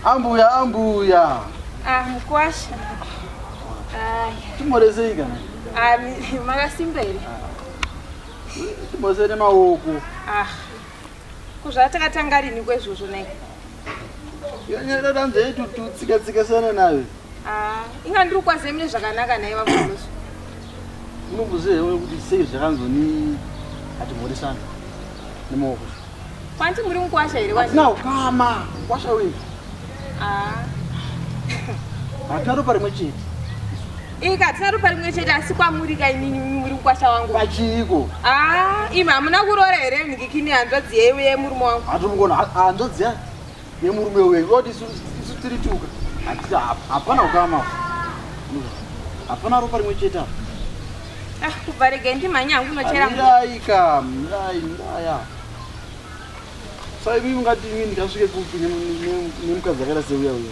Ambuya, ambuya. Ah, mkwasha. Ai. Timorezei kana? Ah, makasimbere. Timozere maoko. Ah. kuzvatakatanga rini kwezvozvo nei yanyara danza yedu tutsikatsikatsana nayo ah, inga ndiri kukwazai mune zvakanaka naye vakuloso unomboziva here kuti sei zvakanzoni hatimhoresana nemaoko kwanti muri mukwasha here hatina ukama kwasha wei ah. hatina ropa rimwe chete Ika tinarupa rimwe chete asi kwamuri ka inini muri mukwasha wangu. Pachiiko? Ah, imi hamuna kuroora here mhikikini hanzvadzi yeyu yemurume wangu. Hatomugona hanzvadzi yemurume weyu. Woti isu tiri tuka. Hatita hapana ukama. Hapana ropa rimwe chete apa. Ah, kubva regai ndimhanya hangu unochera. Mirai ka, mirai, miraya. Saivi mungati ini ndikasvike kupi nemukadzi akaita seuya uya.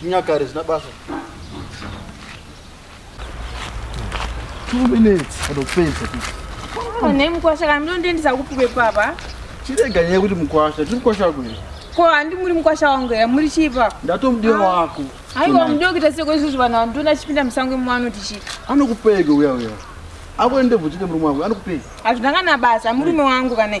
zvinyakare zvina basa ne mukwasha kana mlondiendisa kupi kwepapa chirega nyaya yekuti mukwasha tiri mukwasha wako here ko handi muri mukwasha wangu here muri chipa ndatomudiwa ah. wako aiwa mudiwa kuita seko izvozvo vanhu vandiona achipinda musango imwano tichii anokupege uya uya akuende bvutike murume wangu anokupege hazvinangana basa murume wangu kana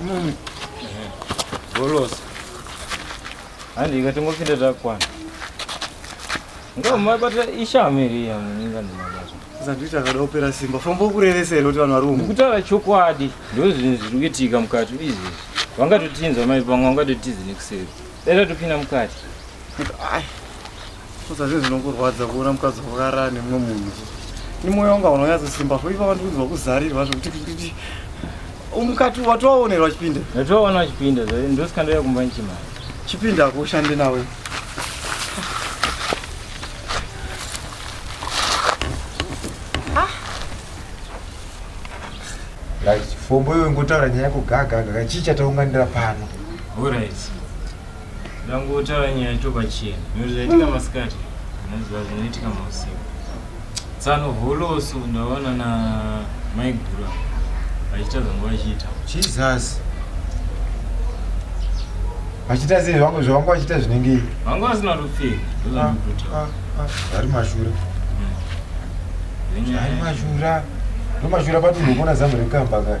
Mummy. Bolos. Handi ikatongopinda zvakwana. Ngamabata ishame iri yamuninga ndimabata. Zandita kada opera simba. Famba ukurevesera kuti vanhu vari umu. Kutaura chokwadi ndozvinhu zviri kuitika mukati izvi. Vangatotinzwa mai pangu vangatotizi nekuseri. Dai tatopinda mukati. Ai. Saka zvinhu zvinongorwadza kuona mukadzi wakarara nemumwe munhu. Ni moyo wanga unonyatsosimba so ipapa ndikunzwa kuzarirwa zvokuti umukati watowaonerwa chipinda. Ndatowaona chipinda ndosikandoya kumba nchimari. Chipinda akushande nawe. Guys, fombo iwe ngotaura nyaya yako gaga gaga chii chataunganira pano. All right. Ndangotaura nyaya topachena. Zvaitika masikati. Zvinoziva zvinoitika mausiku. Tsano holoso ndaona na maigura vachiita zvanga vachiita. Jesus. Vachiita sei vangu zvavanga vachiita zvinenge ivi? Vanga vasina rupfeka. Ah, ah, ah. Vari mashura. Vari mashura. Ndo mashura patunhu kuona zamu rekamba kare.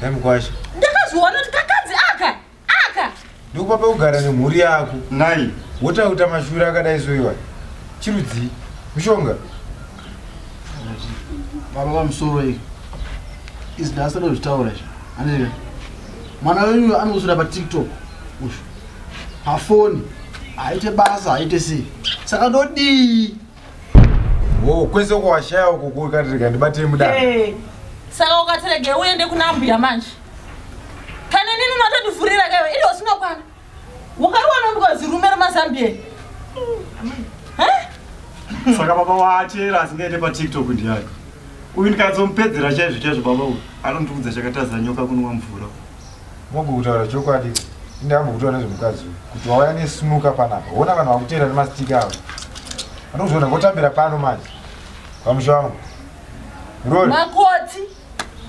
Dai mukwasha. Ndakazviona kuti kakadzi aka aka. Ndokupa pekugara nemhuri yako. Nai. Wotauta mashuri akadai soiwa. Chirudzii? Mushonga. Baba vamusoro iyi. Izvi ndasada kuzvitaura izvi. Andika. Mwana wenyu anosvira pa TikTok. Ushu. Hafoni. Haite basa, haite sei. Saka ndodii? Oh, kwese uko washaya uko kukatirika ndibatei mudana. Hey. Eh, saka ukatirege uende kuna mbuya manje. Kana nini unotondivhurira kaiwe ili usingakwana. Wakariwana ndikazi rume remazambia. Eh? Saka baba waachera asingaite pa TikTok ndiyani. Uyu ndikazomupedzera chaizvo chaizvo baba uyu. Anondiudza chakataza nyoka kunwa mvura. Mogu kutaura chokwadi inde ambokutora nezvemukadzi uyu kuti wauya nesinuka panapa hona vanhu vakuteera nemastika avo anozviona ngotambira pano manje pamusha wangu makoti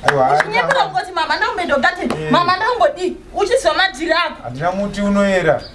aiwakunyepera kukoti mama ndaumbedogateni eh. mama ndaungodii uchiziva madhiri ako handina muti unoyera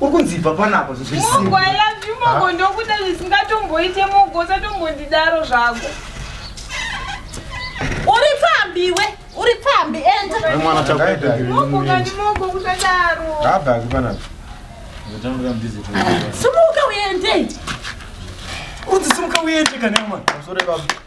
uri kunzi ibva panapa zvozvisimugo i love you mogo ah. ndokuda zvisingatomboite mogo usatombondidaro zvako uri pfambi iwe uri pfambi endamogo kusadaro simuka uende uri simuka uende kana mwana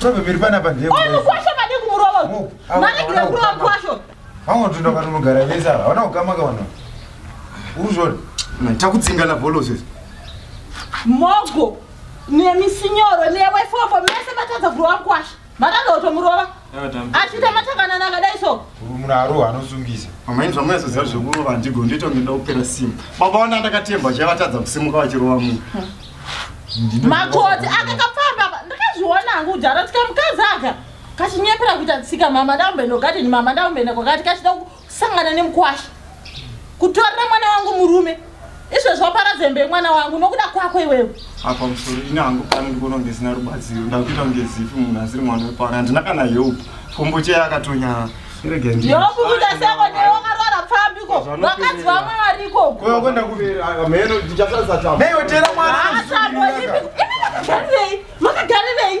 Tobviri pana pa ndemo. Oi mukwasho pade kumurovo. Mari kira kurova mukwasho. Vamwe tunda vanogara vese ava. Hauna kukama ka vanhu. Uzvori. Takudzingana bolos izvi. Mogo nemisinyo newe fofo mese vatadza kurova mukwasho. Vatadza kutomurova. Achita matakanana akadai so. Murumuna aroha anosungisa. Mama ini zvamwe soziva zvekurova handigo ndito ngenda kupera simba. Baba wana ndakatemba chavatadza kusimuka vachirova munhu. Makoti akakapfamba ndakazviona hangu kudhara tika mukazaka. Kachinyepera kuita tsika mama ndaumbeno gadeni mama ndaumbeno kwakati kachida sangana nemukwasha kutorera mwana wangu murume izvezvi wapara zembe yemwana wangu nokuda kwako iwewe apa musoro ini hangu pano ndikuona kunge zina rubatsiro ndakuita kunge zifi munhu asiri mwana wepano handina kana help fombo cheye akatonyara yokukuda seko newakarwara pfambiko vakadzi vamwe varikokoasamboipi makagarirei